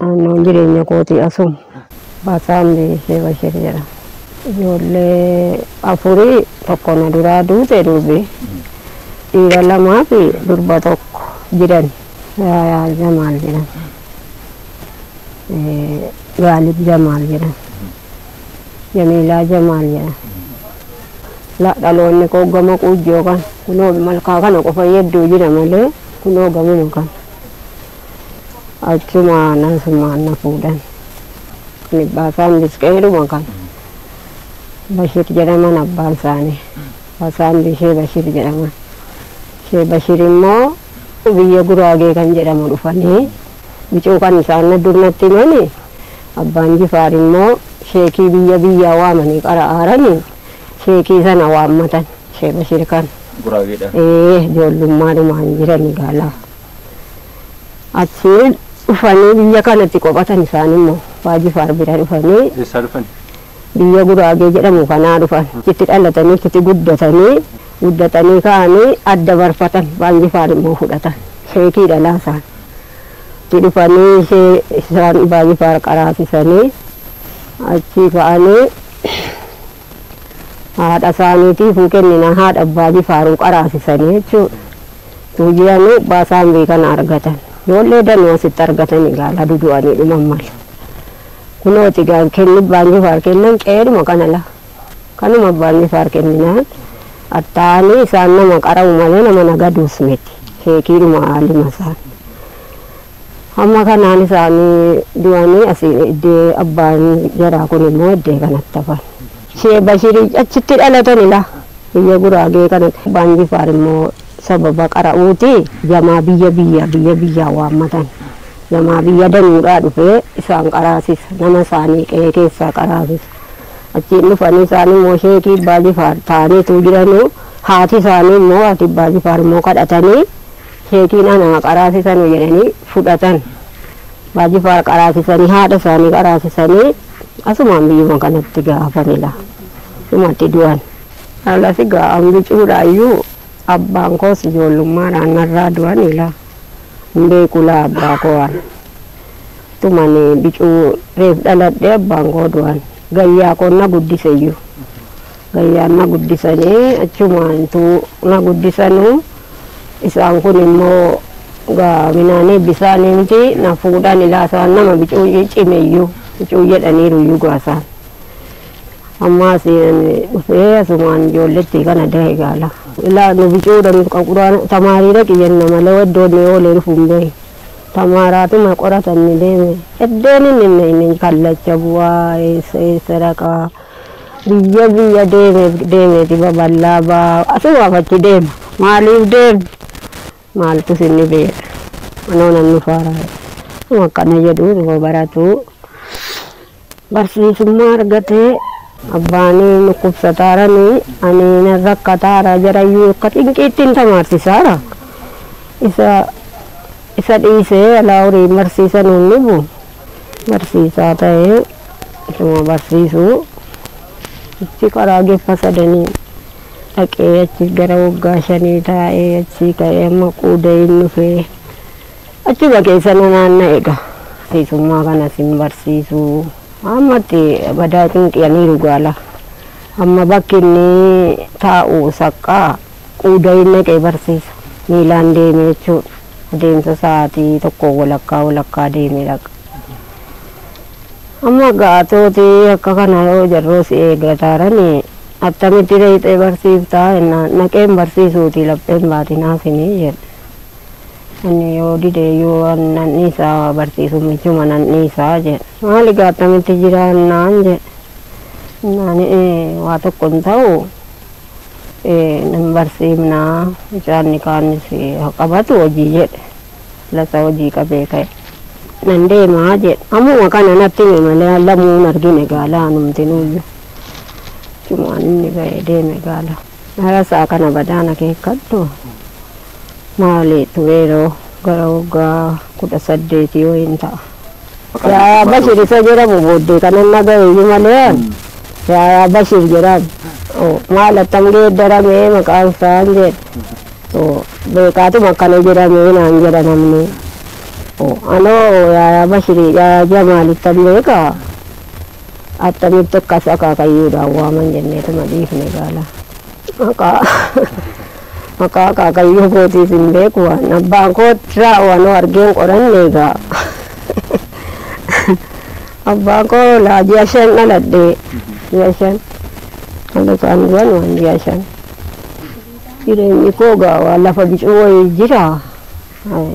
Naannoon jireenya kootii asuma. Basaam Sheebashir jedhama. Ijoollee afuri tokko na duraa duute durbi. Dhiira lamaa fi durba tokko jirani. Yaayaa Jamaal jedhama. Gaalib Jamaal jedhama. Jamiilaa Jamaal jedhama. La dhaloonni koo gama quujjoo kana. Kunoo malkaa kana qofa hedduu jira malee kunoo gamuma kana. achuma nasummaan na fuudhan. Kan Ibbaasaan Misqeeluma kan Bashir jedhaman abbaan isaanii. Hasaan Bishee Bashir jedhaman. Ishee Bashir immoo biyya Guraagee kan jedhamu dhufanii bicuu kan isaan dur natti himani abbaan Jifaar immoo sheekii biyya biyyaa waamanii qara'aaranii sheekii sana waammatan ishee Bashir kan. Guraageedha. Ee ijoollummaadhumaan jirani gaalaa. Achii dhufanii biyya kanatti qophatan isaan immoo Abbaa Jifaar bira dhufanii Eessaa dhufani? biyya Guraagee jedhamu kanaa dhufan. Achitti dhalatanii achitti guddatanii guddatanii ka'anii adda barfatan Abbaan Jifaar immoo fudhatan. Sheekii dhalaa isaan. Itti dhufanii ishee isaan Abbaa Jifaar qaraasisanii achii ka'anii haadha isaaniitiifuu kennina haadha abbaa jifaaruun qaraasisanii jechuudha. Utuu jiranuu abbaa saanbee kana argatan. Ijoollee danuu asitti argatan egaa ladu du'anii dhuman malee. Kunooti egaa kenni abbaan jifaar kennan qe'eedhuma kana laa. Kanuma abbaan jifaar kenninaan attaa'anii isaan nama qara'u malee nama nagaduus miti. Sheekiidhuma haalima isaan. Hamma kanaan isaan du'anii asi eddee abbaan jaraa kun immoo eddee kanatti hafan. Sheeh Bashir achitti dhalatani laa biyya Guraagee kanatti. Abbaan Jifaar immoo sababa qara'uuti jamaa biyya biyya biyya biyyaa waammatan. Jamaa biyya danuudhaa dhufee isaan qaraasisa. Nama isaanii qe'ee keessaa qaraasisa. Achiin dhufanii isaan immoo sheekii abbaa Jifaar ta'anii utuu jiranuu haati isaanii immoo haati abbaa Jifaar immoo kadhatanii. keetiin anaa qaraasisanu jedhanii fudhatan. Abbaa Jifaar qaraasisanii haadha isaanii qaraasisanii asumaan biyyuma kanatti gaafan ila sumatti du'an. Alas egaa an bicuudhaayyuu abbaan koos ijoollummaadhaan narraa du'an ila hin beeku laa abbaa koo an. Tumani bicuu reef dhaladhee abbaan koo du'an. Gayyaa koon na guddiseyyuu. Gayyaan na guddisanii achumaantu na guddisanu. Isaan kun immoo gaa minaanii bisaaniimti na fuudhan ilaa isaan nama bicuuyyee cimeyyu bicuu jedhaniiru iyyuu gaa isaan. Ammaas ani dhufee asumaan ijoolletti kana dahe gaala. Ilaa nu bicuudhan qaquraan tamaariidha qiyyanna malee iddoon ni oolee dhufu hin beeku. Tamaaraatuma qoratanni deeme iddoon inni hin beekne kallacha bu'aa eessa eessa dhaqaa. Biyya biyya deeme deemeeti babal'aa baa asumaaf achi deema. Maaliif deema? Maaltu sinni beeka? Anoo nan dhufaara. Nama akkana jedhu dhuma baratu barsiisummaa argatee abbaan dhukkubsataarani ani nan rakkataara jarayyuu akka xinqiittiin tamaarsisaara. Isa isa dhiisee alaa horii barsiisan hin dhufu. Barsiisaa ta'ee ituma barsiisuu achi karaa geffa sadanii dhaqee achi gara waggaa shanii taa'ee achii ka'ee amma quudayin dhufee achuma keessa na naanna'e egaa barsiisummaa kanas hin barsiisuu amma itti badaa cinqi'aniiru gaala amma bakki inni taa'u saqqaa Quudayiin naqee barsiisa. Miilaan deeme jechuudha. Adeemsa sa'aatii tokkoo walakkaa walakkaa deemee dhaqa. Amma gaatooti akka kana yoo jarroo si eeggataarani attamitti dayxee barsiiftaa jennaan naqeen barsiisuuti lapheen baatinaafini jedhe. Ani yoo dide yoo nan dhiisa barsiisuun michuma nan dhiisa jedhe. Maali gaa attamitti jira jennaan jedhe. Jennaan waa tokko hin ta'u. hin barsiifna mucaan nikaanis haa qabatu hojii jedhe lasa hojii qabee ka'e nan deemaa jedhe ammuma kana natti hime malee an lamuu hin argine gaala anumtinuuyyu achumaan inni ba'ee deeme gaala harasaa kana badaan akeekkadhu maali tureeroo gara waggaa kudha saddeetii wayiin ta'a. Yaayaa Bashir isa jedhamu booddee kanan dhagahe iyyuu malee an Yaayaa Bashir jedhamu oo, maal attam geeddaramee maqaan isaan jedhe oo, beekaatuma akkana jedhamee naan jedha namni oo, anoo Yaayaa Bashir Yaayaa Jamaalittan beeka attamitti akkas akaakayyuudhaan waaman jenneetuma dhiifne gaala. Maqaa maqaa akaakayyuu kootiis hin beeku waan abbaan kootirraa waan argeen qoranne egaa abbaan koo laa ji'a shan dhaladhe ji'a shan dhalotaan du'an waan ji'a shan jireenyi koo egaa waan lafa bicuu wayii jira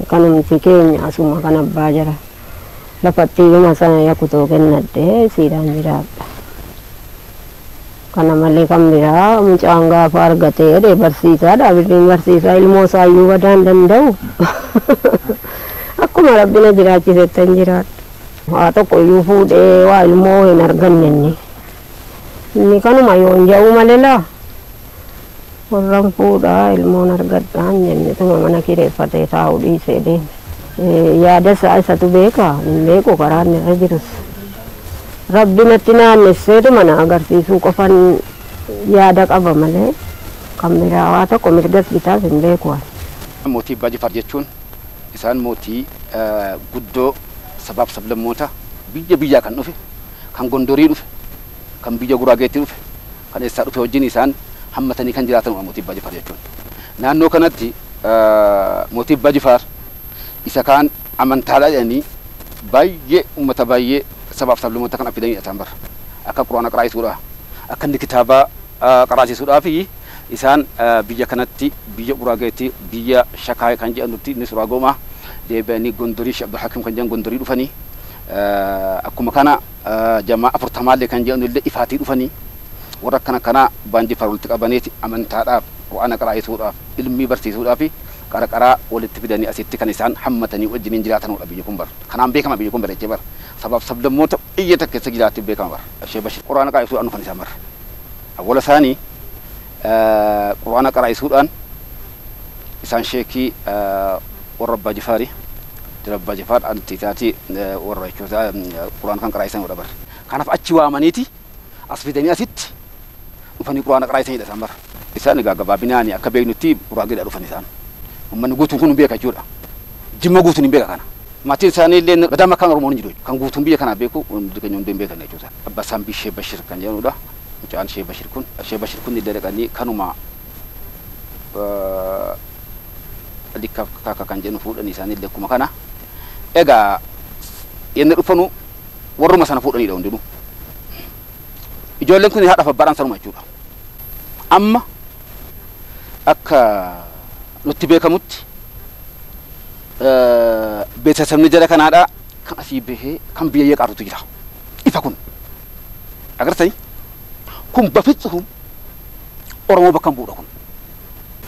kanumti keenya asuma kan abbaa jira lafatti hima sana yakutoo kennadhe siidaan jiraadha. Kana malee kan biraa mucaan gaafa argate jedhe barsiisaadha. Birriin barsiisaa ilmoo isaayyuu badaa hin danda'u. Akkuma rabbi na jiraachisettan jiraadha. Waa tokko iyyuu fuudhee waa ilmoo hin arganne inni. Inni kanuma yoon jedhu malee laa. Warran fuudha ilmoon argadhaan jennetuma mana kireeffatee taa'u dhiisee deeme. Yaada isaa isatu beeka, hin beeku karaa inni irra jirus. Rabbi natti naannesseetuma na agarsiisuu qofan yaada qaba malee kan biraa waa tokko mirgas bitaas hin beeku ani. Mootii Abbaa Jifaar jechuun isaan mootii guddoo sabaaf sablammoota biyya biyyaa kan dhufe, kan Gondorii dhufe, kan biyya Guraageetii dhufe, kan eessaa dhufe wajjin isaan hammatanii kan jiraatanudha Mootii Abbaa Jifaar jechuun. Naannoo kanatti Mootii Abbaa Jifaar isa kaan amantaadha jedhanii baay'ee ummata baay'ee sabaaf sablammoota kan affidanidha isaan bar. Akka Qur'aana qaraasisuudha, akka inni kitaaba qaraasisuudhaafi isaan biyya kanatti biyya Guraageetti biyya Shakaay kan jedhanutti inni Suraagoomaa deebi'anii Gondorii Shee Abdulhakim kan jedhan Gondorii dhufanii Akkuma kana jamaa afurtamaallee kan je'anullee ifaatii dhufanii warra akkana kanaa baan Jifaar walitti qabaneeti amantaadhaaf, Qur'aana qaraa'isuudhaaf, ilmii barsiisuudhaafi qara qaraa walitti fidanii asitti kan isaan hammatanii wajjiniin jiraatanudha biyyi kun bar. Kanaan beekama biyyi kun bar dachee bar sabaaf sablammoota biyya takka keessa jiraattu beekama bar. Sheeh Bashir Qur'aana qaa'isuudhaan dhufan isaan bar. Awwala saanii Qur'aana qaraa'isuudhaan isaan sheekii warra Abbaa Jifaari. Dira Abbaa Jifaar anti taati warra jechoota Qur'aana kan qaraa'isanudha bar. Kanaaf achi waamaniiti as fidanii asitti dhufanii Qur'aana qaraa'isanidha isaan bar. Isaan egaa gabaabinaani akka beeknutti Guraageedhaa dhufan isaan. Ummanni guutuun kun hin beeka jechuudha. Jimma guutuun hin beeka kana. Maatiin isaanii illee Gadaama akkaan Oromoon hin jiru jechuudha. Kan guutuun biyya kanaa beeku hundi keenya hunduu hin beekna jechuudha. Abbaa Saambii Sheek Bashir kan jedhamudha. mucaan shee bashir kun shee bashir kun illee dhaqanii kanuma likka kaka kan jennu fuudhanii isaanii illee akkuma kana egaa yenna dhufanu warruma sana fuudhaniidha hundinuu ijoolleen kun haadhaaf abbaadhaan sanuma jechuudha amma akka nutti beekamutti beeksisabni jara kanaadha kan asii bahee kan biyya yeqaatutu jira ifa kun. Agartani? Kun bafitsuhum Oromoo bakka hin bu'udha kun.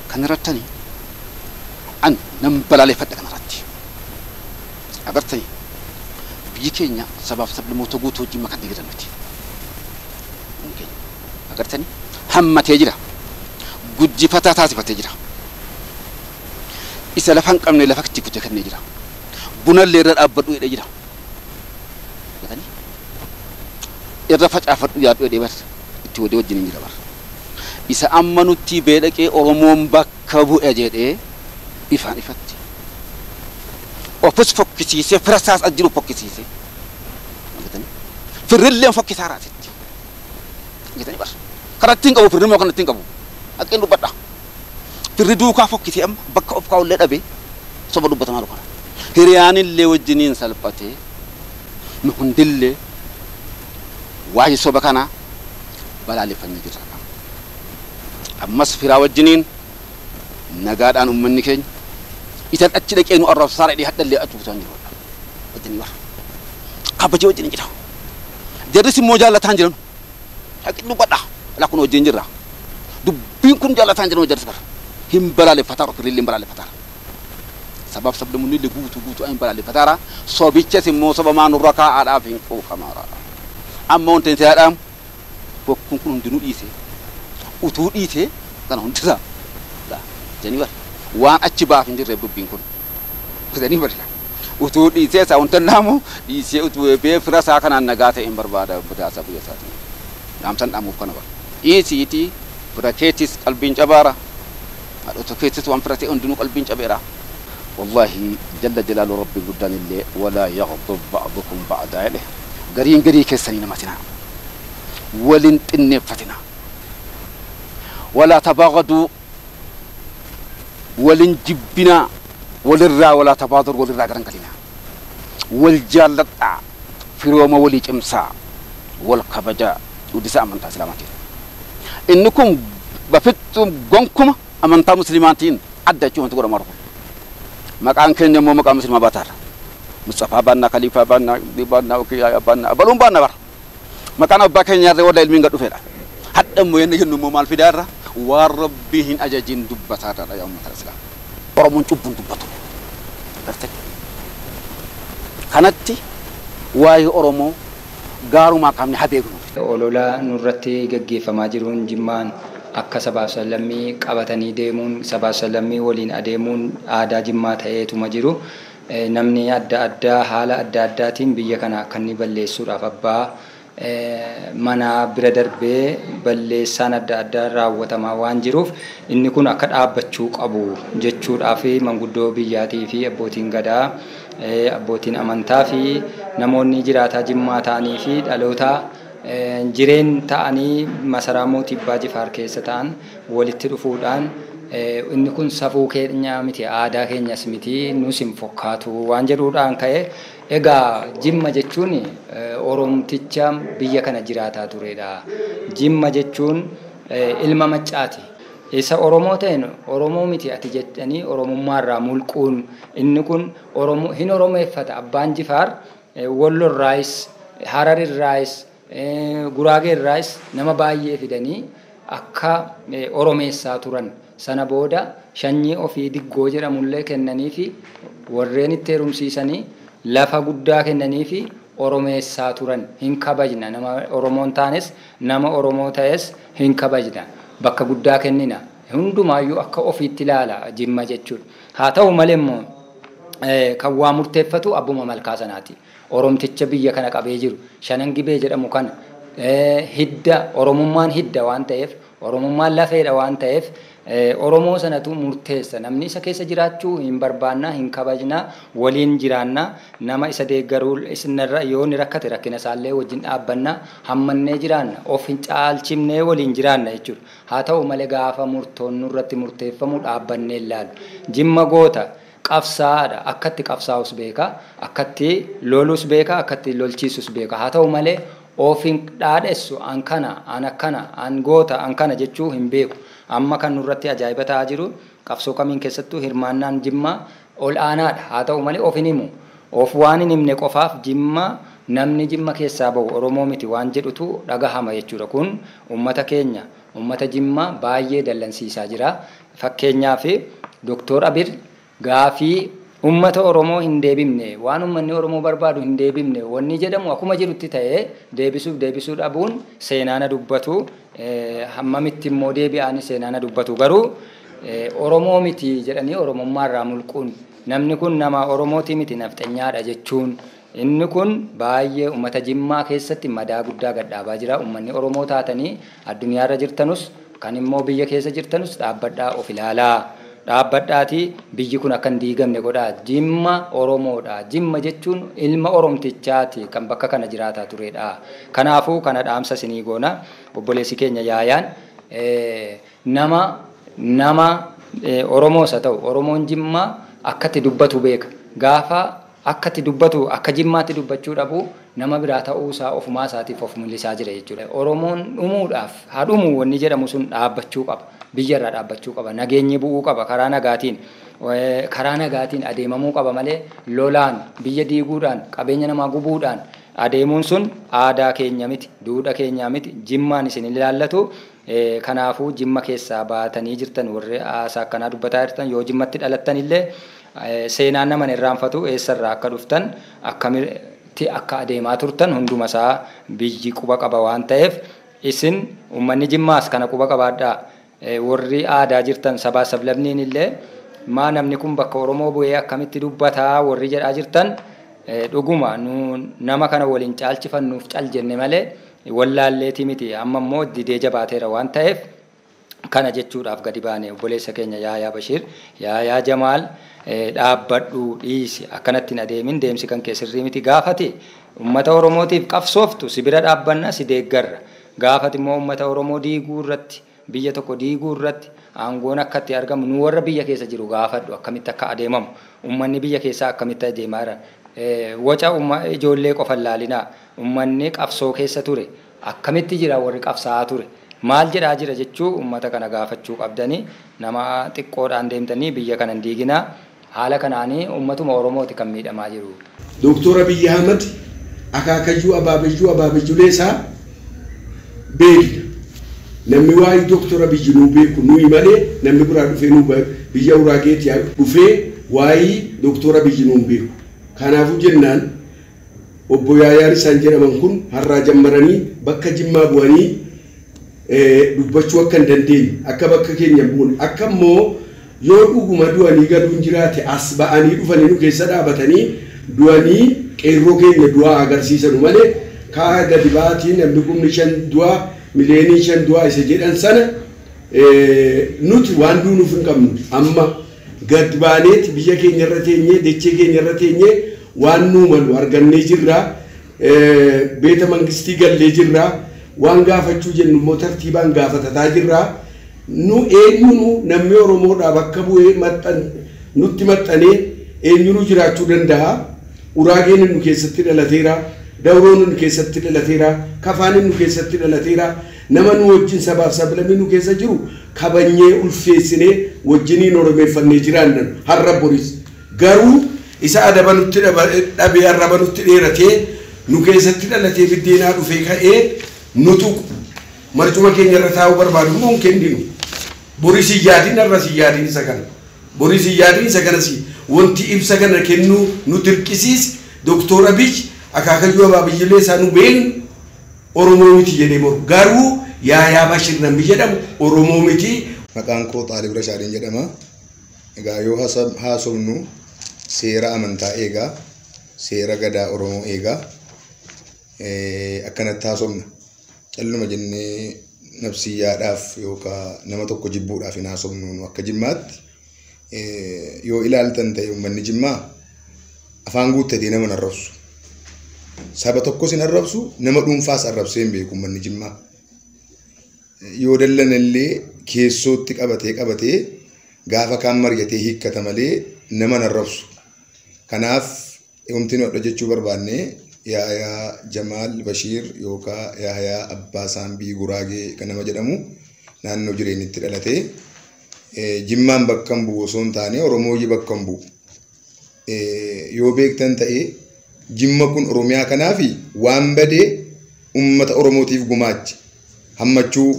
Kan irrattani an nan balaaleffadha kana irratti. Agartani? Biyyi keenya sabaaf sablammoota guutuu wajjin makantee jirra nuti. Biyyi keenya. Agartani? Hammatee jira. Guddifataa taasifatee jira. Isa lafa hin qabne lafa itti kutee kennee jira. Bunallee irra dhaabbadhu jedhee jira. Gatanii? Irra facaafadhu yaadhu jedhee bar itti wadee wajjiniin jira bar. Isa amma nuttii bee dhaqee Oromoon bakka bu'e jedhee ifaan ifatti ofis fokkisiisee fira isaas as jiru fokkisiisee. Gatanii? Firrilleen fokkisaa raasitti. Gatanii bar. Kanatti hin qabu firri immoo kanatti hin qabu. Haqqeen dubbadha. Firri duukaa fokkitee amma bakka of kaa'ullee dhabee soba dubbata maaloo kana. Hiriyaanillee wajjiniin salphate nu hundillee waa'ee soba kanaa balaaleffannee jirra kaa. Ammas firaa wajjiniin nagaadhaan ummanni keenya isan achi dhaqee nu arrabsaara jedhee hadhallee achi butaan jiru hadha. Wajjinii warra. Kaabajee wajjiniin jira. Jarris immoo jaallataan jiranu. Dhaqi dubbadha. Ilaa kun wajjin jirra. Dubbiin kun jaalataan jedhama jarris bara. Hin balaaleffataara ofirri illee hin balaaleffataara. Sabaaf sablammunni illee guutuu guutuu hin balaaleffataara. Sobichas immoo sobamaa nurra kaa'aadhaaf hin quufamaara. Amma wanti itti yaadaamu bokkuun kun hundinuu dhiisee utuu dhiisee kana hundisaa jedhanii bara. Waan achi baaf hin jirreef dubbiin kun. Fidanii barila. Utuu dhiisee isaa wanta dhaamu dhiisee utuu eebee fira isaa kanaan nagaa ta'een barbaada badaa isaa biyya isaatiin. Dhaamsan dhaamuuf kana bara. Dhiisiitii fira keetis qalbiin cabaara. Haadhota keetis waan fira ta'e hundinuu qalbiin cabeera. Wallaahi jalla jalaalu Rabbiin guddaan illee walaa yaghdab ba'dukum ba'daa jedhe. Gariin garii keessan hin hamatinaa. Wal hin xinneeffatinaa. Walaa tabaaghaduu Walin jibbinaa walirraa walaa tabaador walirraa garangalinaa wal jaalladhaa firooma walii cimsaa wal kabajaa gudisaa amantaa islaamatiin inni kun bafittuum gonkuma amantaa muslimaatiin adda jechuu wanti godhamaa jiru kun maqaan keenya immoo maqaa muslimaa baataa irra musxafaa baannaa kaliifaa baannaa baannaa okiyaaya baannaa abaluun baanna bara Maqaan abbaa keenyaa irra warra ilmiin gad dhufedha. Hadha immoo yanna jennu immoo maal fidaa irra waan rabbii hin ajajin dubbataa irradha yaa ummata islaama. Oromoon cubbu hin dubbatu. Gartee? Kanatti waa'ee Oromoo gaarumaa qabne ha beeknu. Olola nurratti gaggeeffamaa jiruun Jimmaan akka sabaaf sablammii qabatanii deemuun sabaaf sablammii waliin adeemuun aadaa Jimmaa ta'eetuma jiru. Namni adda addaa haala adda addaatiin biyya kana akka inni balleessuudhaaf abbaa manaa bira darbee balleessaan adda addaa raawwatamaa waan jiruuf inni kun akka dhaabbachuu qabu jechuudhaaf manguddoo biyyaatii fi abbootiin gadaa abbootiin amantaa fi namoonni jiraataa jimmaa ta'anii fi dhaloota jireen ta'anii masaraa mootii abbaa jifaar keessa ta'an walitti dhufuudhaan inni kun safuu keenya miti, aadaa keenyas miti, nus hin fokkaatu waan jedhuudhaan ka'e. Egaa Jimma jechuun Oromticha biyya kana jiraataa turedha. Jimma jechuun ilma Maccaati. Isa Oromoo ta'een Oromoo miti ati jedhanii Oromummaa irraa mulquun inni kun hin Oromeeffata. Abbaan Jifaar Wollo irraayis, Harar irraayis, Guraagee irraayis nama baay'ee fidanii akka Oromeessaa turan. Sana booda shanyii ofii Diggoo jedhamullee kennaniifi warreen itti herumsiisanii lafa guddaa kennaniifi Oromeessaa turan. Hin kabajna. Nama Oromoo hin taanes nama Oromoo ta'es hin kabajna. Bakka guddaa kennina. Hundumaayyuu akka ofiitti ilaala Jimma jechuudha. Haa ta'u malee immoo kan waa murteeffatu abbuma malkaa sanaati. Oromticha biyya kana qabee jiru Shanan Gibee jedhamu kana hidda Oromummaan hidda waan ta'eef, Oromummaan lafeedha waan ta'eef Oromoo sanatu murteessa. Namni isa keessa jiraachuu hin barbaanna, hin kabajna, waliin jiraanna. Nama isa deeggaru isnarra yoo inni rakkate rakkina isaallee wajjin dhaabbanna. Hammannee jiraanna. Of hin caalchifnee waliin jiraanna jechuudha. Haa ta'u malee gaafa murtoon nurratti murteeffamu dhaabbannee hin laallu. Jimma goota. qabsaa'aadha. Akkatti qabsaa'us beeka, akkatti lolus beeka, akkatti lolchiisus beeka. Haa ta'u malee of hin dhaadhessu an kana, an akkana, an goota, an kana jechuu hin beeku. Amma kan nurratti ajaa'iba ta'aa jiru qabsoo kamiin keessattuu hirmaannaan Jimmaa ol aanaadha. Haa ta'u malee of hin himu. Of waan hin himne qofaaf Jimma namni Jimma keessaa bahu Oromoo miti waan jedhutu dhagahama jechuudha. Kun ummata keenya, ummata Jimmaa baay'ee dallansiisaa jira. Fakkeenyaaf Doktoor Abil gaafii ummata Oromoo hin deebifne, waan ummanni Oromoo barbaadu hin deebifne wannii jedhamu akuma jirutti ta'ee deebisuuf deebisuu dhabuun seenaa na dubbatu, hammamitti immoo deebi'aani seenaa na dubbatu garuu Oromoo miti jedhanii Oromummaa irraa mulquun, namni kun nama Oromootii miti nafxenyaadha jechuun, Inni kun baay'ee ummata Jimmaa keessatti madaa guddaa gad dhaabaa jira. Ummanni Oromoo taatanii addunyaa irra jirtanus, kan immoo biyya keessa jirtanus dhaabbadhaa of ilaalaa. Dhaabbadhaatii biyyi kun akka hin diigamne godhaa. Jimma Oromoodha. Jimma jechuun ilma Oromtichaati kan bakka kana jiraataa turedha. Kanaafuu kana dhaamsa isinii goona. Obboleessi keenya Yaayaan nama nama Oromoos haa ta'u Oromoon Jimmaa akka itti dubbatu beeka. Gaafa Akka itti dubbatu, akka Jimmaatti dubbachuu dhabu, nama biraa ta'uu isaa ofumaa isaatiif of mul'isaa jira jechuu dha. Oromoon dhumuudhaaf, haa dhumu wanni jedhamu sun dhaabbachuu qaba. Biyya irraa dhaabbachuu qaba. Nageenyi bu'uu qaba karaa nagaatiin. Karaa nagaatiin adeemamuu qaba malee lolaan, biyya diiguudhaan, qabeenya namaa gubuudhaan adeemuun sun aadaa keenya miti, duudha keenyaa miti, Jimmaan isin hin ilaallatu. Kanaafuu Jimma keessaa baatanii jirtan warri haasaa akkanaa dubbataa jirtan yoo Jimmatti dhalattan illee Seenaan nama hin irraanfatu, eessa irraa akka dhuftan, akkamitti akka adeemaa turtan hunduma isaa biyyi quba qaba waan ta'eef isin uummanni Jimmaas kana quba qabaadhaa. Warri aadaa jirtan sabaa sablamniin illee maa namni kun bakka Oromoo bu'ee akkamitti dubbata warri jedhaa jirtan dhuguma nu nama kana wal hin caalchifannuuf cal jenne malee wallaalleetii miti amma immoo didee jabaateera waan ta'eef Kana jechuudhaaf gadi baane obboleessa keenya Yaayaa Bashiir, Yaayaa Jamaal dhaabbadhu, dhiisi, akkanatti hin adeemin, deemsi kan kee sirrii miti, gaafa ati ummata Oromootiif qabsooftu si bira dhaabbanna, si deeggarra, gaafa ati immoo ummata Oromoo diiguu irratti, biyya tokko diiguu irratti aangoon akka itti argamu nu warra biyya keessa jiru gaafadhu, akkamitti akka adeemamu, ummanni biyya keessaa akkamitti adeemaa jiran, waca ijoollee qofa hin laalinaa, ummanni qabsoo keessa ture, Akkamitti jira warri qabsaa'aa ture? Maal jedhaa jira jechuu ummata kana gaafachuu qabdani. Nama xiqqoodhaan deemtanii biyya kana hin diiginaa. Haala kanaan ummatuma Oromooti kan miidhamaa jiru. Doktoor Abiy Ahmad akaakayyuu abaabayyuu abaabayyulee isaa beekna. Nammi waayii Doktoor Abiy nuu beeku nuyi malee nammi biraa dhufee nuu biyya Uraageeti dhufee waayii Doktoor Abiy nuu hin beeku. Kaanaafuu jennaan Obbo Yaayaa Risaan jedhaman kun harraa jammaranii bakka Jimmaa bu'anii dubbachuu akka hin dandeenye, akka bakka keenya hin buune, akka immoo yoo dhuguma du'anii galuun jiraate as ba'anii dhufanii nu keessa dhaabatanii du'anii qeerroo keenya du'aa agarsiisanu malee kaa gadi ba'aatii namni kumni shan du'aa miliyooniin shan du'aa isa jedhan sana nuti waan duunuuf hin qabnu amma gad baaneeti biyya keenya irra teenyee dachee keenya irra teenyee Waan nuu malu argannee jirra. Beeta mangistii gallee jirra. Waan gaafachuu jennu immoo tartiibaan gaafatataa jirra. Nu eenyunuu nammi Oromoodhaa bakka bu'ee maxxan nutti maxxanee eenyunuu jiraachuu danda'a. Uraageenin nu keessatti dhalateera. Dawroon nu keessatti dhalateera. Kafaanin nu keessatti dhalateera. Nama nuu wajjin sabaaf sablammii nu keessa jiru kabajnyee, ulfeessinee wajjiniin Oromeeffannee jiraanna har'a boris. Garuu isa adaba nutti dhabe arraba nutti dheeratee nu keessatti dhalatee biddeenaa dhufee ka'ee nu tuqu marcuma keenya irra taa'uu barbaadu immoo hin kenninu. Boris hin yaadin arras hin yaadin isa kana. Boris hin yaadin isa kanas wanti ibsa kana kennuu nu dirqisiise Doktoor Abiy akaakayyuu abaabiyyilee isaa nu beeknu Oromoo miti jedhee mormu. Garuu Yaayaa Bashir namni jedhamu Oromoo miti. Maqaan koo Xaalib Rashaadin jedhama. Egaa yoo haasofnu seera amantaa eegaa, seera gadaa Oromoo eegaa akkanatti haasofna. Calluma jennee nabsiyyaadhaaf yookaan nama tokko jibbuudhaaf hin haasofnu nu akka jimmaatti. Yoo ilaaltan ta'e uummanni jimmaa afaan guuttatee nama hin arrabsu. Saba tokkos hin arrabsu, nama dhuunfaas arrabsee hin beeku uummanni jimmaa. yoo dallanellee keessootti qabatee qabatee gaafa kaan mari'atee hiikkata malee nama hin arrabsu. Kanaaf wanti nu hadha jechuu barbaanne Yaayaa Jamaal Bashiir yookaa Yaayaa Abbaa Saambii Guraagee kan nama jedhamu naannoo jireenyitti dhalate. Jimmaan bakka hin bu'u osoo hin taane Oromooyyi bakka hin bu'u. yoo beektan ta'e jimma kun oromiyaa kanaaf waan badee ummata oromootiif gumaache hammachuu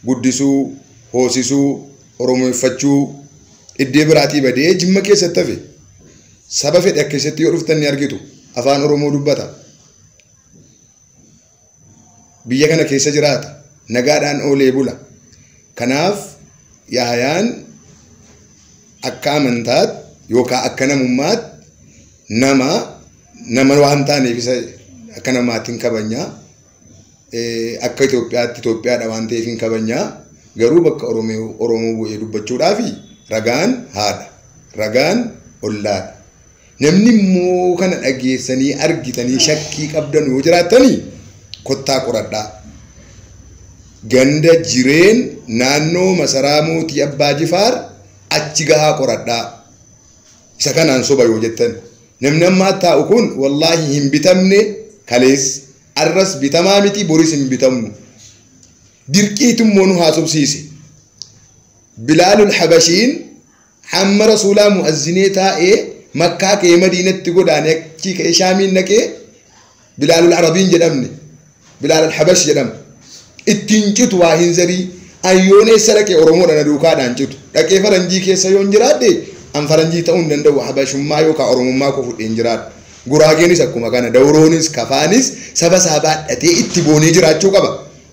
guddisuu hoosisuu oromoeffachuu iddee biraatii badee jimma keessatti hafe saba fedhe keessatti yoo dhuftan ni argitu afaan oromoo dubbata biyya kana keessa jiraata. Nagaadhaan oolee bula. Kanaaf Yaahayaan akka amantaatti yookaan akka namummaatti nama nama waan taaneef isa akka namaatti hin kabajnaa. Akka Itoophiyaatti Itoophiyaadha waan ta'eef hin kabajnaa. Garuu bakka Oromoo bu'ee dubbachuudhaaf ragaan haadha. Ragaan ollaadha. Namni immoo kana dhageessanii argitanii shakkii qabdan yoo jiraattanii kottaa qoradhaa. Ganda jireen naannoo masaraa mootii abbaa jifaar achi gahaa qoradhaa. Isa kanaan soba yoo jettan. Namni ammaa taa'u kun wallaahi hin bitamne kalees arras bitamaa miti boris hin bitamnu. Dirqiitu immoo nu haasofsiise. Bilaalul Habashiin Hamma Rasuulaa mu'azzinee taa'ee Makkaa ka'ee Madiinatti godaane achii ka'ee Shaamiin dhaqee Bilaalul Arabiin jedhamne Bilaalul Habash jedhama. Ittiin citu waa hin zarii an yoon eessa dhaqee Oromoodha na duukaadhaan citu. Dhaqee faranjii keessa yoon jiraadhe an faranjii ta'uu hin danda'u Habashummaa yookaan Oromummaa koo fudhee hin jiraadhu. Guraageenis akkuma kana Dawroonis Kafaanis saba isaa baadhatee itti boonee jiraachuu qaba.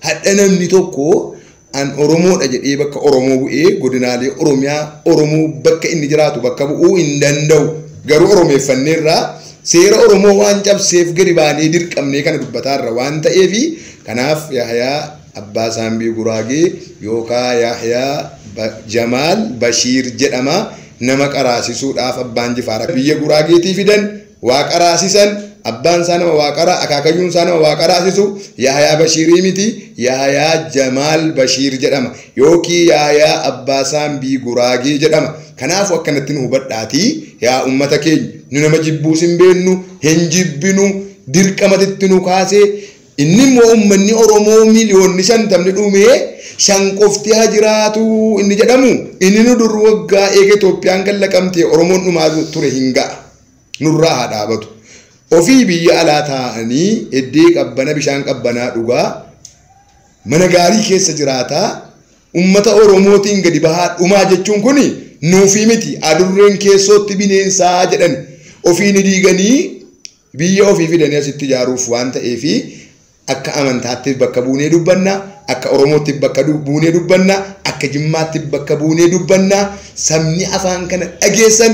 Hadha namni tokko An Oromoodha jedhee bakka Oromoo bu'ee godinaalee Oromiyaa Oromoo bakka inni jiraatu bakka bu'uu hin danda'u. Garuu Oromeeffanneerra seera Oromoo waan cabseef gadi baanee dirqamnee kana dubbataarra waan ta'eefi kanaaf Yahyaa Abbaa Saambii Guraagee yookaa Yahyaa Ba- Jamaal Bashiir jedhama nama qaraasisuudhaaf Abbaan Jifaar biyya Guraageetii fidan Waaqa raasisan, abbaan isaa nama Waaqara, akaakayyuun isaa nama Waaqa raasisu, Yaahayaa Bashiirii miti, Yaahayaa Jamaal Bashiir jedhama. Yookii Yaahayaa Abbaa Saambii Guraagee jedhama. Kanaafu akkanatti nu hubadhaati, yaa ummata keenya, nu nama jibbuus hin beennu, hin jibbinu, dirqamati itti nu kaase, inni immoo ummanni Oromoo miliyoonni shantamni dhumee, shan qofti haa jiraatu inni jedhamu, inni nu dur waggaa eega Itoophiyaan gad laqamtee Oromoon dhumaa ture hin ga'a. nurraa haa dhaabatu. Ofii biyya alaa taa'anii eddee qabbana bishaan qabbanaa dhugaa mana gaarii keessa jiraataa ummata Oromootiin gadi bahaa dhumaa jechuun kun nuufii miti adurreen keessootti bineensaa jedhan ofii ni diiganii biyya ofii fidanii asitti ijaaruuf waan ta'eefi akka amantaattis bakka buunee dubbanna akka oromoottis bakka du- buunee dubbanna akka jimmaattis bakka buunee dubbanna sabni afaan kana dhageessan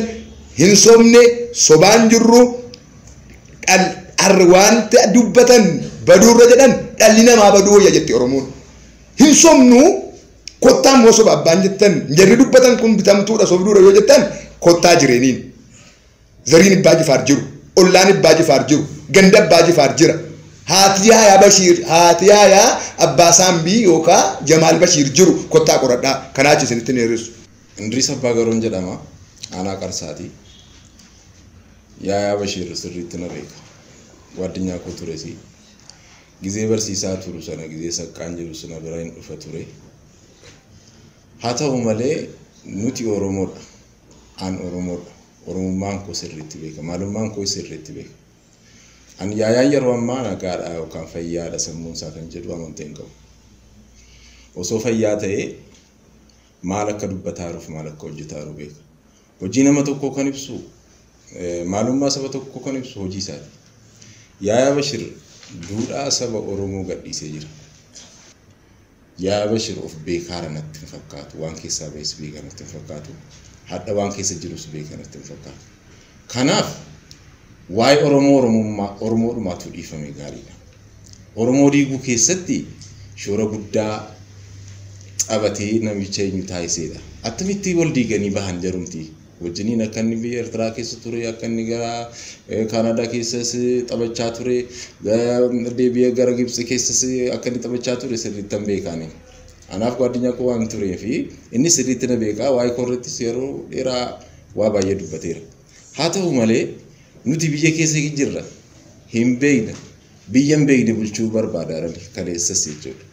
hin sobne sobaan jirru dhal har wanta dubbatan baduurra jedhan dhalli namaa baduu wayya jetti oromoon hin sobnu kottaa immoo soba abbaan jettan jarri dubbatan kun bitamtuudha sobduudha yoo jettan kottaa jireeniin Zariin Ibbaa Jifaar jiru, ollaan Ibbaa Jifaar jiru, ganda Abbaa Jifaar jira. Haati Yaayaa Bashiir, haati Yaayaa Abbaa Saambii yookaa Jamaal Bashiir jiru kottaa qoradhaa. Kanaa achi isinitti hin dheeressu. Indiriis Abbaa Garoon jedhama. Aanaa Qarsaati. Yaayaa Bashiir sirriitti na beeka. Guaddinyaa koo turesi. Gizee barsiisaa turu sana gizee saqqaan jiru suna bira hin dhufa ture. Haa ta'u malee nuti Oromoodha. an Oromoodha. Oromummaan koo sirriitti beeka. Maalummaan koo sirriitti beeka. An yaayaan yeroo ammaa nagaadha yookaan fayyaadha sammuun isaa kan jedhu amantii hin qabu. Osoo fayyaa ta'ee maal akka dubbataa jiruuf maal akka hojjetaa jiru beeka. Hojii nama tokkoo kan ibsu maalummaa saba tokkoo kan ibsu hojii isaati. Yaayaa Bashir duudhaa saba Oromoo gadhiisee jira. Yaa Abashir of beekaara natti hin fakkaatu waan keessaa bahes beeka natti hin fakkaatu hadha waan keessa jirus beeka natti hin fakkaatu kanaaf waa'ee Oromoo Oromummaa Oromoodhumaa tuu dhiifame gaariidha Oromoo diiguu keessatti shoora guddaa xabatee namicha eenyu taasiseedha attamitti wal diiganii bahan jarumti wajjiniin akka inni biyya Ertiraa keessa ture akka inni gara Kaanaadaa keessas taphachaa ture deebi'ee gara Gibxi keessas akka inni taphachaa ture sirriitti hin beekaani. Anaaf gaaddinyaa koo waan turee fi inni sirriitti na beekaa waa'ee koo irrattis yeroo dheeraa waa baay'ee dubbateera. Haa ta'u malee nuti biyya keessa jirra hin beekna biyya hin beekne bulchuu barbaada kaleessas jechuudha.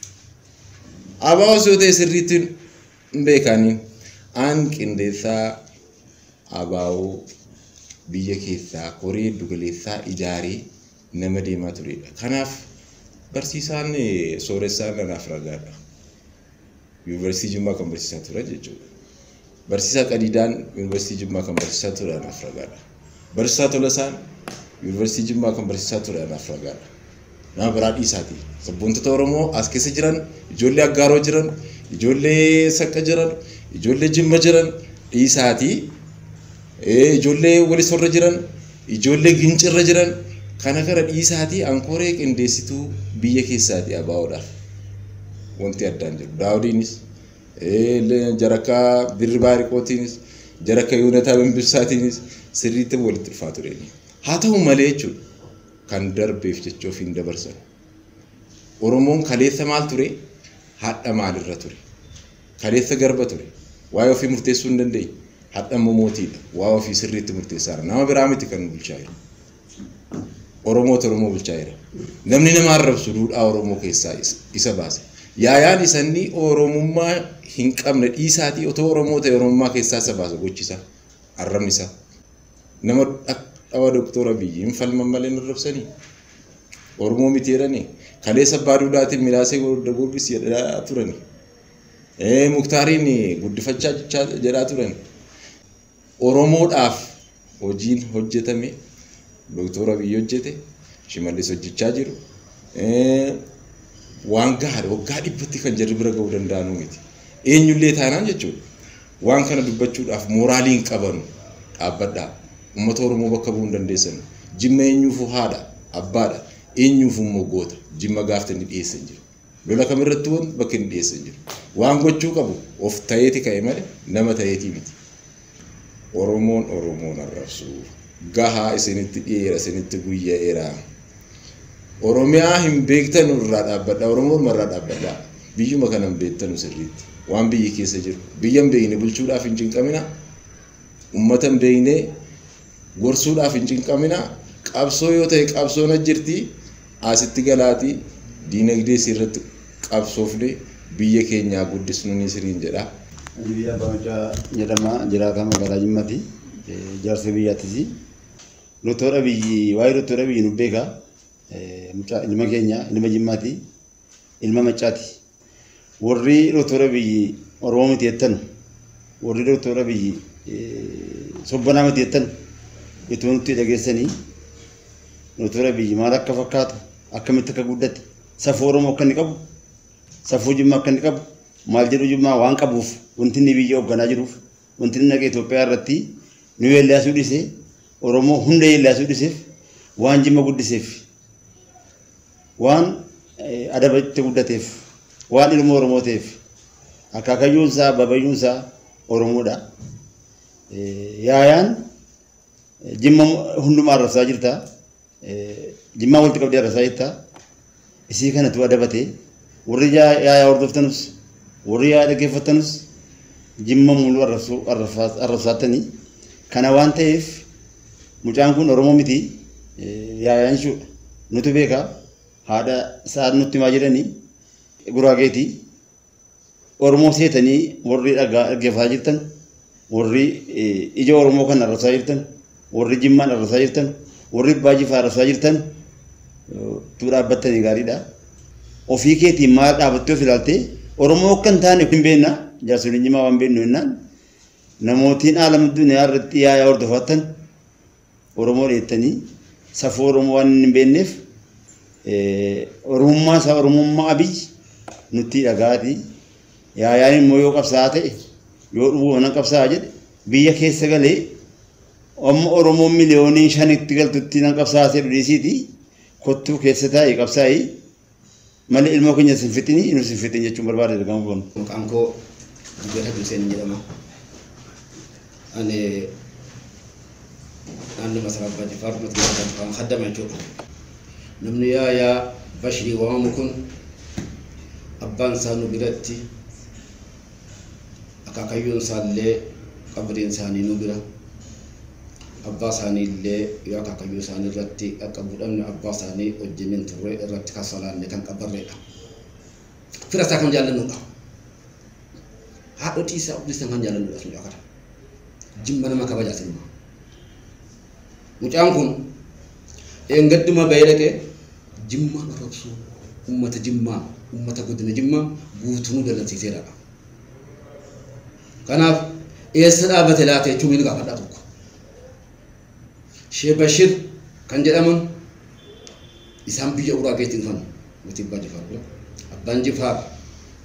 Abaa osoo ta'e sirriitti hin beekaani. An qindeessaa ABO biyya keessaa koree giddu galeessaa ijaaree nama deemaa turedha. Kanaaf barsiisaan eh, sooressaan anaaf ragaadha. Yuunivarsiitii Jimmaa kan barsiisaa ture jechuudha. Barsiisaa Qadiidaan Yuunivarsiitii Jimmaa kan barsiisaa ture anaaf ragaadha. Barsiisaa Tolasaan Yuunivarsiitii Jimmaa kan barsiisaa ture anaaf ragaadha. Nama biraa dhiisaati. Sabboontota Oromoo as keessa jiran, ijoollee Aggaaroo jiran, ijoollee Saqqa jiran, ijoollee Jimma jiran dhiisaati. Ijoollee Walisorra jiran, ijoollee Gincirra jiran kana kana dhiisaati ankoree qindeessituu biyya keessaati abaawoodhaaf. Wanti addaan jiru. Daawudiinis jarakka dirribaa riqootiinis jarakka yoonataa bimbibsaatiinis sirriitti walitti dhufaa ture haa ta'u malee jechuudha kan darbeef jecha ofiin dabarsan oromoon kaleessa maal ture hadha maalirra ture kaleessa garba ture waa'ee ofii murteessuu hin dandeenye hadha immoo mootiidha waa'ee ofii sirriitti murteessaara nama biraa miti kan nu bulchaa jiru. Oromoota Oromoo bulchaa jira. Namni nama arrabsu duudhaa Oromoo keessaa is- isa baasa. Yaayaan isanni Oromummaa hin qabne dhiisaatii otoo Oromoo ta'e Oromummaa keessaa isa baasa gochisa. Arrabni isaa. Nama dhak- dhawa Doktor Abiyyi hin falman malee hin arrabsanii. Oromoo miti jedhanii. Kaleessa abbaa duudaatiin milaasee gorda gorgis jedhaa turani. Eh, Muktaariin guddifachaa jechaa jedhaa turani. Oromoodhaaf hojiin hojjetame Doktor Abiy hojjete, Shimallis hojjechaa jiru waan gahaadha. Waggaa dhibbatti kan jarri bira ga'uu danda'anuu miti. Eenyullee taanaan jechuudha. Waan kana dubbachuudhaaf mooraalii hin qabanu. Dhaabbadhaa. Uummata Oromoo bakka bu'uu hin dandeessanu. Jimma eenyuufuu haadha, abbaadha. Eenyuufuu immoo goota. Jimma gaafte inni dhiyeesse hin jiru. Lola kamirratti wanti bakka inni dhiyeesse hin jiru. Waan gochuu qabu of ta'eeti ka'e malee nama ta'eetii miti. Oromoon Oromoon arrabsuu gahaa isinitti dhiyeera isinitti guyya'eera. Oromiyaa hin beektanu irraa dhaabbadha Oromoo orma irraa dhaabbadha. Biyyuma kana hin beektanu sirriitti. Waan biyyi keessa jiru biyya hin beekne bulchuudhaaf hin cinqamina. Uummata hin beekne Gorsuudhaaf hin cinqaminaa. Qabsoo yoo ta'e qabsoon as jirti. Asitti galaatii diinagdee isii irratti qabsoofne biyya keenyaa guddisnu ni siriin jedha. Ani Abbaa Macaa jedhama. Jiraataa magaalaa Jimmati. Jaarsa biyyaatisi. Doktor Abiyyi waa'ee Doktor Abiyyi nu beeka. Mucaa ilma keenya ilma Jimmaati. Ilma Maccaati. Warri Doktor Abiyyi Oromoo miti jettanu, warri Doktor Abiyyi sobbanaa miti jettanu ituma nutti dhageessanii Doktor Abiyyi maal akka fakkaatu, akkamitti akka guddate, safuu Oromoo akka inni qabu, safuu Jimmaa akka inni qabu, maal jedhu Jimmaa waan qabuuf wanti inni biyya hoogganaa jiruuf wanti inni dhaqee Itoophiyaa irratti nu yeellaasuu dhisee Oromoo hunda yeellaasuu dhiseef waan Jimma guddiseef Waan adaba itti guddateef, waan ilmoo Oromoo ta'eef, akaakayyuun isaa, abaabayyuun isaa Oromoodha. Yaayaan jimma hundumaa arrabsaa jirta. Jimmaa walitti qabdee arrabsaa jirta. Isii kanatu adabate. Warri yaayaa hordoftanus, warri yaayaa dhaggeeffattanus jimma muluu arrabsaattanii. Kana waan ta'eef Mucaan kun Oromoo miti yaayanshuudha. Nutu beeka haadha isaa nutti himaa jedhani guraageeti. Oromoo seetanii warri dhagaa dhaggeeffataa jirtan warri ija Oromoo kan arrabsaa jirtan warri jimmaan arrabsaa jirtan warri baajifaa arrabsaa jirtan tuu dhaabbattanii gaariidha. Ofii keetiin maal dhaabattee of ilaaltee Oromoo akka hin taane hin beekna jaarsoliin jimaa waan beeknu jennaan namootiin aalam addunyaa irratti yaayaa hordofaattan Oromoo dheettanii safuu Oromoo waan hin beekneef Oromummaa isaa Oromummaa Abiy nutti dhagaati. Yaayaan immoo yoo qabsaa'aa ta'e yoo dhufuu mana qabsaa'aa jedhe biyya keessa galee amma Oromoo miliyoonii shanitti galtutti nan qabsaa'aa ta'e dhiisiiti kottuu keessa taa'e qabsaa'e. Malee ilmoo keenya sin fixini inuu sin fixin jechuun barbaade ergamu kun. Maqaan koo Jibril Hajji Huseen jedhama. Ani naannoo Masaraa Abbaa Jifaar mootummaa Jalfaan kaddama jechuudha. Namni yaayaa Bashirii waamamu kun abbaan isaa nu biratti akaakayyuun isaallee qabriin isaanii nu bira abbaa isaanii illee yoo akaakayyuu isaanii irratti dhaqqabuu dhabne abbaa isaanii wajjin hin turre irratti kan salaanne kan qabarreedha. Fira isaa kan jaallannuudha. Haadhotii isaa obboleessan kan jaallannuudha sun akata. Jimma nama kabajaa sinuma. Mucaan kun dheengadduma bahee dhaqee Jimmaa arrabsuu ummata Jimmaa, ummata godina Jimmaa guutunuu dallansiiseera. Kanaaf eessa dhaabate laata jechuun ni gaafadha tokko. Shee Bashir kan jedhaman isaan biyya Uraageetti dhufan mootii Abbaa Jifaar bira. Abbaan Jifaar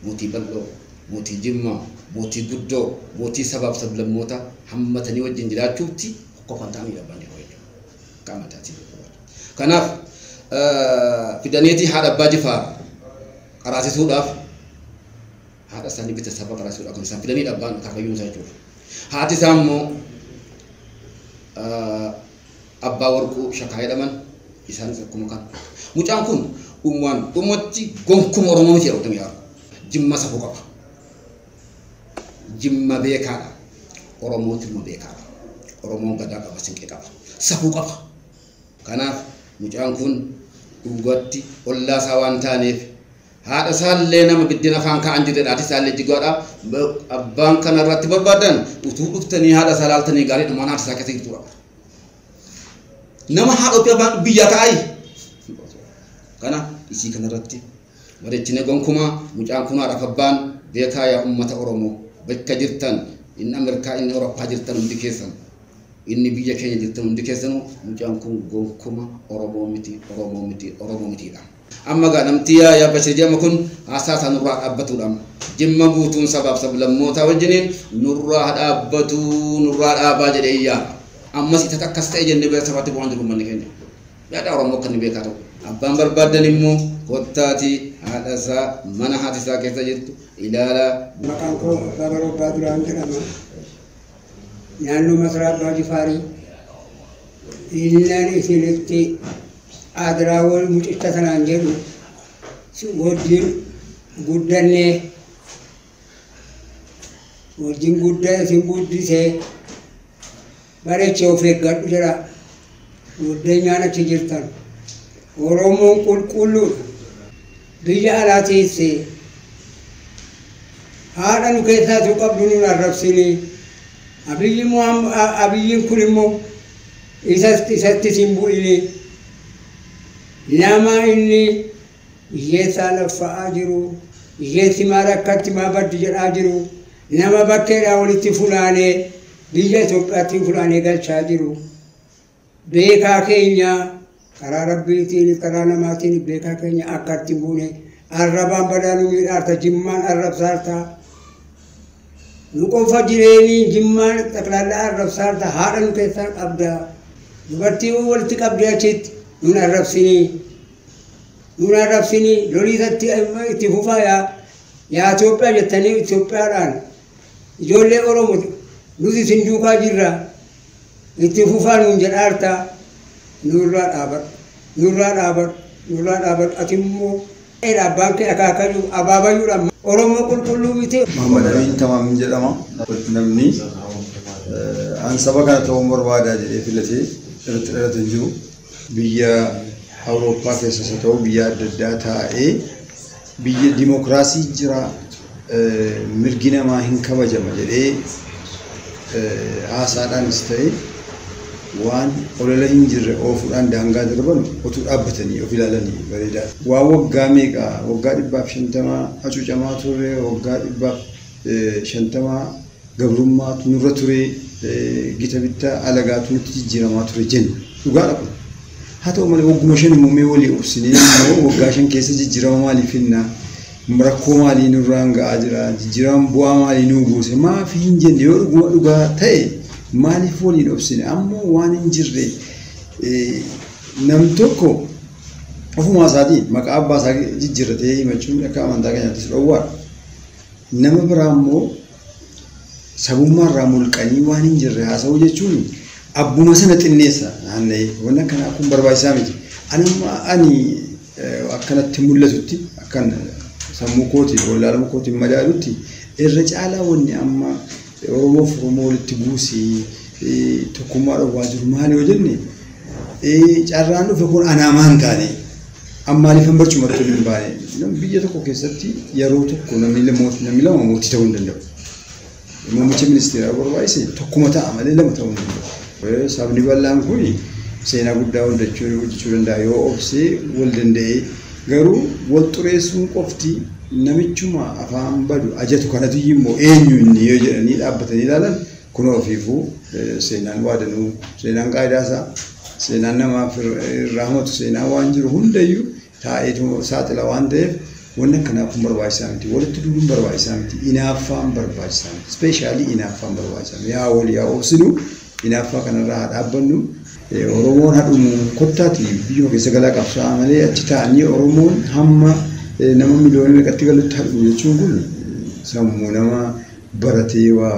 mootii bal'oo, mootii Jimmaa, mootii guddoo, mootii sabaaf sablammootaa hammatanii wajjin jiraachuutti tokko kan ta'an abbaan jedhu wayya qaama taatee kanaaf fidaneetii haadha abbaa jifaar qaraasisuudhaaf haadha isaanii bita saba qaraasisuudhaaf kan isaan fidanii dhabbaan kaakayyuu isaa jechuudha haati isaa immoo abbaa warquu shakaa jedhaman isaanis akkuma kan mucaan kun dhumaan dhumatti gonkuma oromoo miti jedhamtanii jimma safuu qaba. Jimma beekaadha. Oromoon Jimma beekaadha. Oromoon Gadaa qaba, Sinqee qaba, safuu qaba. Kanaaf mucaan kun dhugaatti ollaa isaa waan taaneef haadha isaallee nama biddeen afaan kaa'an jirredha. Haati isaallee jigaadha. Abbaan kana irratti barbaadan utuu dhuftanii haadha isaa laaltanii gaariidha. Mana haati isaa keessa jirtudha. Nama haadha ofii abbaan biyyaa kaa'ayi. Kana isii kana irratti Madachine gonkumaa mucaan kun haadhaf abbaan beekaa yaa ummata oromoo bakka jirtan inni amirkaa inni oroppaa jirtan hundi keessan inni biyya keenya jirtan hundi keessanu mucaan kun gonkuma oromoo miti oromoo miti oromoo mitiidha. Amma gaa namti yaa yaa bashir jedhama kun haasaa isaa nurraa dhaabbatuudha amma. Jimma guutuun sabaaf sablammootaa wajjiniin nurraa ha dhaabbatuu nurraa dhaabaa jedhee iyyaa. Ammas itata akkas ta'e jennee bira safaatti bu'aan jiru ummanni keenya. Yaada Oromoo akka inni beekaa ta'u. Abbaan barbaaddan immoo kottaatii haadha isaa mana haati isaa keessa jirtu ilaalaa. Maqaan koo Abbaa Baroo Abbaa Duraan jedhama. Naannoo Masaraa Abbaa Jifaarii. Innan isinitti aadiraawwan mucicha sanaan jedhu si wajjin guddannee wajjin gudda isin guddisee Bareche of eeggadhu jedhaa goddeenyaan achi jirtan Oromoon qulqulluudha biyya alaa teessee haadha nu keessaa tu qabdu nun arrabsinii abiyyi Muhammad abiyyiin kun immoo isatti isatti sin bu'inii nama inni Iyyee saa laffa'aa jiru, iyyee si maa rakkatti maa baddi jedhaa jiru, nama bakkeedhaa walitti funaanee biyya Itoophiyaatti funaanee galchaa jiru. Beekaa keenya karaa rabbiitiin karaa namaatiin beekaa keenya akka itti buune arrabaan badaa nu miidhaarta jimmaan arrabsaarta. Nu qofa jireenii jimmaan xaqlaallaa arrabsaarta haadha nu keessaa qabda. Dubartii walitti qabdee achitti nun arrabsinii. Nuun arrabsinii lolii irratti itti fufaa yaa yaa Itoophiyaa jettanii Itoophiyaadhaan ijoollee Oromo nuti isin duukaa jirra itti fufaa nuun jedhaarta nurraa dhaabadhu nurraa dhaabadhu nurraa dhaabadhu ati immoo dheedha abbaan kee akaakayyuu abaabayyuudha Oromoo qulqulluu miti. Muhammad Amin Tamaam jedhama. Namni eh, an saba kana ta'uun barbaada jedhee filatee irratti dhalate hin jiru. biyya Awurooppaa keessas haa ta'u biyya adda addaa taa'ee biyya dimokiraasiin jira mirgi namaa hin kabajama jedhee haasaadhaanis ta'e waan olola hin jirre oofuudhaan daangaa darban otuu dhaabbatanii of ilaalanii bareedaa. Waan waggaa meeqa waggaa dhibbaaf shantamaa hacuucamaa turre waggaa dhibbaaf shantamaa gabrummaatu nurra ture, gita bittaa alagaatu nutti jijjiiramaa ture jenna. Dhugaadha kun. Haa ta'u malee wagguma shan immoo mee walii obsinee immoo waggaa shan keessa jijjiirama maalii finna? Rakkoo maalii nurraan ga'aa jira? Jijjiirama bu'aa maalii nuu buuse? Maaf hin jenne yoo dhuguma dhugaa ta'e maaliif waliin obsine? Amma waan hin jirre nam tokko ofumaa isaatiin maqaa abbaa isaa jijjiirratee himachuun akka amantaa keenyaattis dhowwaadha. nama biraa immoo sabummaa irraa mulqanii waan hin jirre haasa'uu jechuun abbuma sana xinneessa naanna'ee waan akkanaa kun barbaachisaa miti. Ani amma ani eh, akkanatti mul'atutti akkan sammuu kootiin wallaaluu kootiin madaalutti irra caalaa wanni amma Oromoof Oromoo walitti buusi, tokkummaa dhowwaa jiru maali yoo jenne, carraan dhufe kun anaamaa hin taane. An maaliifan barcuma irratti hin baane? Biyya tokko keessatti yeroo tokko namni lama mootii ta'uu hin danda'u. Muummicha ministeeraa barbaachise tokkuma ta'a malee lama ta'uu hin danda'u. Sabni bal'aan kun seenaa guddaa hojjechuu danda'a yoo obsee wal danda'ee Garuu wal xureessuun qofti namichuma afaan badu ajatu kanatuyyu immoo eenyu inni yoo jedhanii dhaabbatanii ilaalan kunoo ofiifuu seenaan waa danuu seenaan qaayidaa isaa seenaan namaaf irraa hamatu seenaa waan jiru hundayyu taa'eetu saaxila waan ta'eef wanni akkanaa kun barbaachisaa miti walitti duuluun barbaachisaa miti inaaffaan barbaachisaa miti ispeeshaalii inaaffaan barbaachisaa miti yaa wal yaa obsinuu Inaaffaa kanarraa haa dhaabbannu. Oromoon haa dhumu kottaati biyyuma keessa galaa qabsaa'a malee achi taa'anii Oromoon hamma nama miliyoona meeqatti galutti haa dhumu jechuun kun sammuu nama baratee waa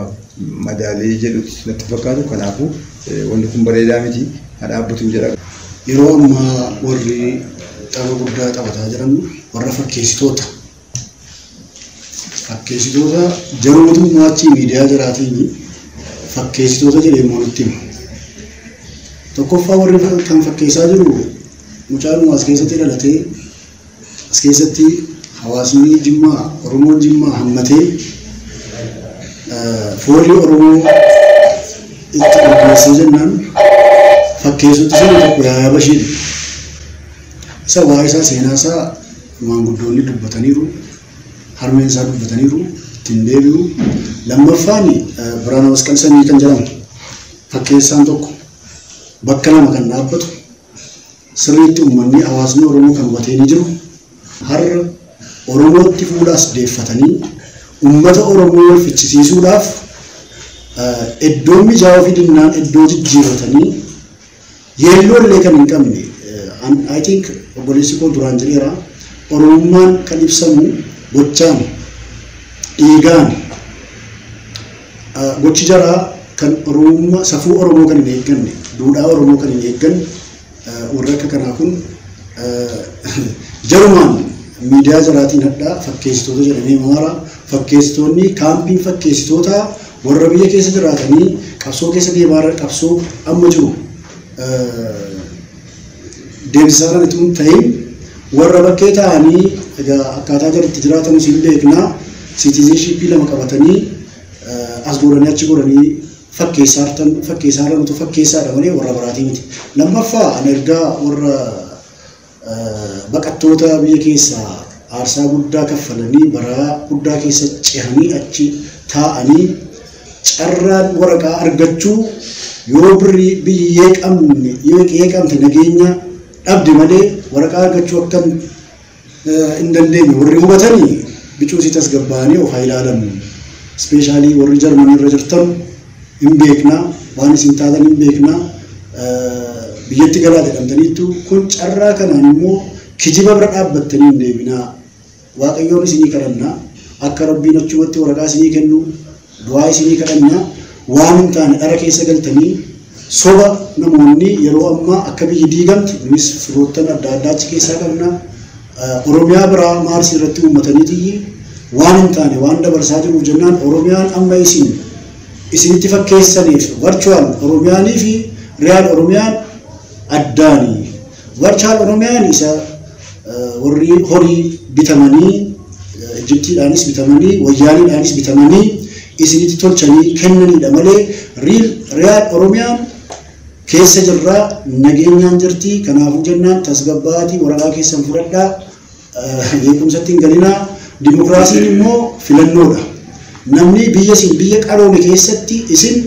madaalee jedhutti natti fakkaatu kanaafuu wanni kun bareedaa miti haa dhaabbatu jedha. Yeroo ammaa warri tapha guddaa taphataa jiran warra fakkeessitoota Fakkeessitoota jarootu maachi miidiyaa jaraatiin fakkeessitoota jedhee immoo nutti hima. Tokkoffaa warri kan fakkeessaa jiru mucaadhuma as keessatti dhalatee as keessatti hawaasni Jimmaa Oromoon Jimmaa hammatee foolii Oromoo itti qopheessee jennaan fakkeessutti sana tokko yaayaba isheedha. Isa waa'ee isaa seenaa isaa maanguddoonni dubbataniiru, harmeen isaa dubbataniiru, itti hin deebi'u. Lammaffaan Biraana Masqal Sanyii kan jedhamu fakkeessaan tokko bakka lama kan dhaabbatu sirriitti uummanni hawaasni Oromoo kan hubatee ni jiru. Har'a Oromootti fuula as deeffatanii uummata Oromoo wal fichisiisuudhaaf iddoo mijaawaa fi dinnaan iddoo jijjiirratanii Yeelloo illee kan hin qabne I think obboleessi koo duraan jedheera Oromummaan kan ibsamu gochaan, dhiigaan, gochi jaraa kan Oromummaa safuu Oromoo kan hin eegganne, duudhaa Oromoo kan hin eegganne warri akka kanaa kun jarumaan miidiyaa jaraatiin hadhaa fakkeessitoota jedhamee himamaara. Fakkeessitoonni kaampiin fakkeessitootaa Warra biyya keessa jiraatanii qabsoo keessa deemaa irra qabsoo amma jiru deemsisaa jiran itoo hin ta'in warra bakkee ta'anii egaa akkaataa jalatti jiraatan isin beeknaa siitiizinshiippii lama qabatanii as godhanii achi godhanii fakkeessaa jirtan fakkeessaa jiran utuu fakkeessaadha malee warra biraatii miti. Lammaffaa ani ergaa warra Baqattoota biyya keessaa aarsaa guddaa kaffalanii baraa guddaa keessa cehanii achi taa'anii carraan waraqaa argachuu yoo birrii biyyi yeeqamne yeeqamte nageenya dhabde malee waraqaa argachuu akka hin dandeenye warri hubatanii bicuusii tasgabbaa'anii of haa ilaalan. Ispeeshaalii warri Jarmanii irra jirtan hin beekna, waan isin taatan hin beekna, biyyatti galaa jedhamtaniittu, kun carraa kanaan immoo kijiba bira dhaabbattanii hin deebinaa, Waaqayyoon isinii kadhanna, akka Rabbiin achumatti waraqaa isinii kennu du'aa isinii kadhanna, waan hin taane dhara keessa galtanii soba namoonni yeroo ammaa akka biyyi diigamtu, nunis firoottan adda addaa achi keessaa qabna, Oromiyaa biraa maarsi irratti uummatanii tiyyi waan hin taane waan dabarsaa jiruuf jennaan Oromiyaan amma isin isinitti fakkeessaniif virtual Oromiyaanii fi real Oromiyaan addaani. Virtual Oromiyaan isa warri horii bitamanii Ijiptiidhaanis bitamanii wayyaaniidhaanis bitamanii isinitti tolchanii kennaniidha malee real Oromiyaan keessa jirra nageenyaan jirti kanaafuu jennaan tasgabbaa'aatii waraqaa keessan fudhadhaa jeequmsatti hin galinaa dimokiraasiin immoo filannoodha namni biyya isin biyya qaroome keessatti isin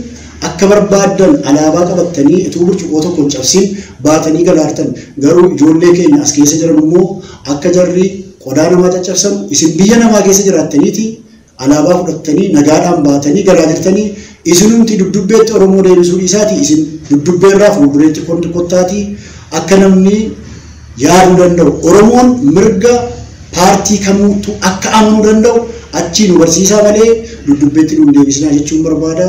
akka barbaaddan alaabaa qabattanii utuu burcuqoo tokko hin cabsin baatanii galaartan garuu ijoollee keenya as keessa jiran immoo akka jarri qodaa namaa caccabsan isin biyya namaa keessa jiraattaniiti Alaabaa fudhattanii nagaadhaan baatanii galaa jirtanii isinumti dubdubbeetti Oromoo deebisuu dhiisaatii isin dubdubbeerraa fuuldureetti kont kottaatii akka namni yaaduu danda'u Oromoon mirga paartii kamuuttu akka amanuu danda'u achii nu barsiisaa malee dubdubbeetti nu hin deebisinaa jechuun barbaada.